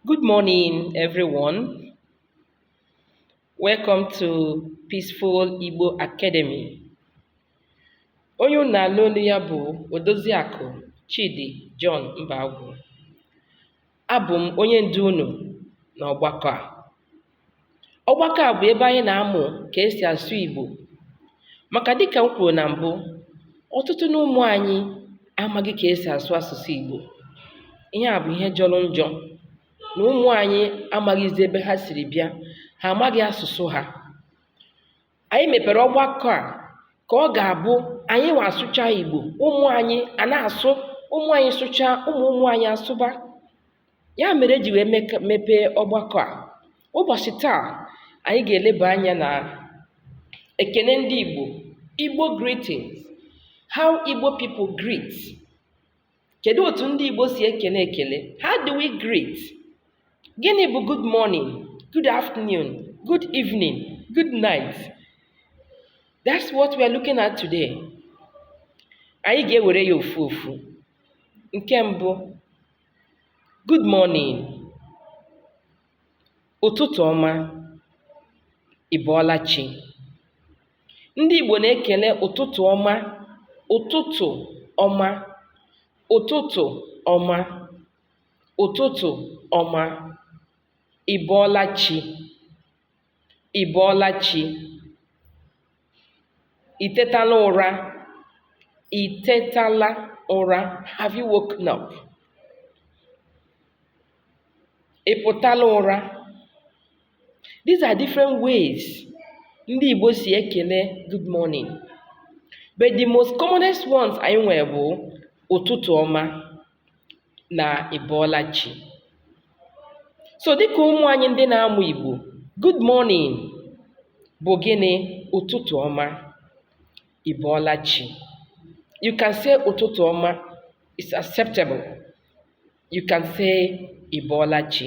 Good morning, everyone. Welcome to Peaceful Igbo Academy. Onye unu na-anụ olu ya bụ Odoziakụ Chidi John Mbagwu. Abụ m onye ndu unu n'ọgbakọ a. ọgbakọ a bụ ebe anyị na-amụ ka esi asụ Igbo maka dịka m kwuru na mbụ ọtụtụ n'ụmụ anyị amaghị ka esi asụ asụsụ Igbo ihe a bụ ihe jọrọ njọ na ụmụ anyị amaghịzi ebe ha siri bịa ha amaghị asụsụ ha anyị mepere ọgbakọ a ka ọ ga-abụ anyị nwa sụcha igbo ụmụ anyị ana-asụ ụmụ anyị sụcha ụmụ ụmụ anyị asụba ya mere eji wee mepee ọgbakọ a ụbọchị taa anyị ga-eleba anya na ekene ndị igbo igbo greetings how igbo people greet Kedu otu ndị Igbo si ekele ekele? How do we greet? Gịnị bụ good morning, good afternoon, good evening, good night? That's what we are looking at today. Anyị ga-ewere ya ofu ofu. Nke mbụ, good morning, ụtụtụ ọma, ị bọọla chi. Ndị Igbo na-ekele ụtụtụ ọma, ụtụtụ ọma, ụtụtụ ọma, ụtụtụ ọma, ị bọọla chi, ị bọọla chi, i tetala ụra, i tetala ụra, have you woken up? Ị pụtala ụra, These are different ways ndị Igbo si ekele good morning. But the most commonest ones anyị nwere bụ ụtụtụ ọma na ị bọọla chi. So dịka ụmụ anyị ndị na-amụ Igbo, good morning bụ gịnị? Ụtụtụ ọma, ị bọọla chi. You can say ụtụtụ ọma, it's acceptable. You can say ị bọọla chi.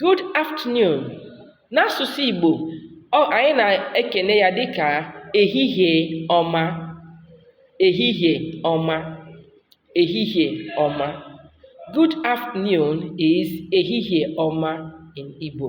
Good afternoon n'asụsụ Igbo ọ anyị na-ekene ya dịka ehihie ọma ehihie ọma ehihie ọma Good afternoon is ehihie ọma in Igbo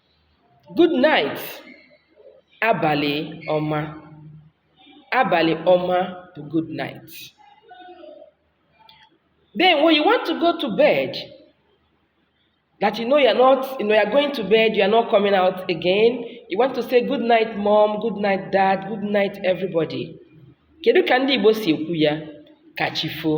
Good night, abalị ọma. Abalị ọma bụ good night. Then when you want to go to bed, that you know you are not, you know you are going to bed, you are not coming out again. You want to say good night mom, good night dad, good night everybody. Kedu ka ndị Igbo si ekwu ya? Ka chi foo.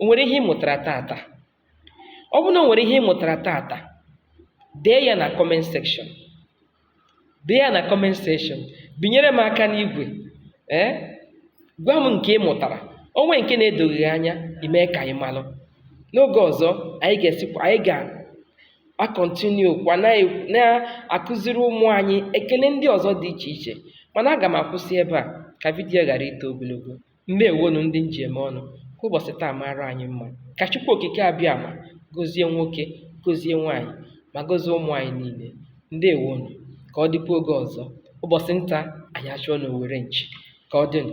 O nwere ihe ị mụtara taata? Ọ bụrụ na o nwere ihe ị mụtara taata, dee ya na comment section. Dee ya na comment section. Binyere m aka n'igwe. Ee? Gwa m nke ị mụtara. O nwee nke na-edoghị gị anya, i mee ka anyị malụ. N'oge ọzọ, anyị ga-esikwa anyị ga-akọntinu kwa na-akụziri ụmụ anyị ekele ndị ọzọ dị iche iche mana aga m akwụsị ebe a ka vidiyo ghara ito ogologo Ndewonu ndị m ji eme ọnụ, ka ụbọsị taa maara anyị mma. Ka Chukwu Okike Abịama gozie nwoke, gozie nwaanyị, ma gozie ụmụ anyị niile. Ndewonu, ka ọ dịkwa oge ọzọ. Ụbọsị nta anyị achụọ n'owere nchi. Ka ọ dịnụ.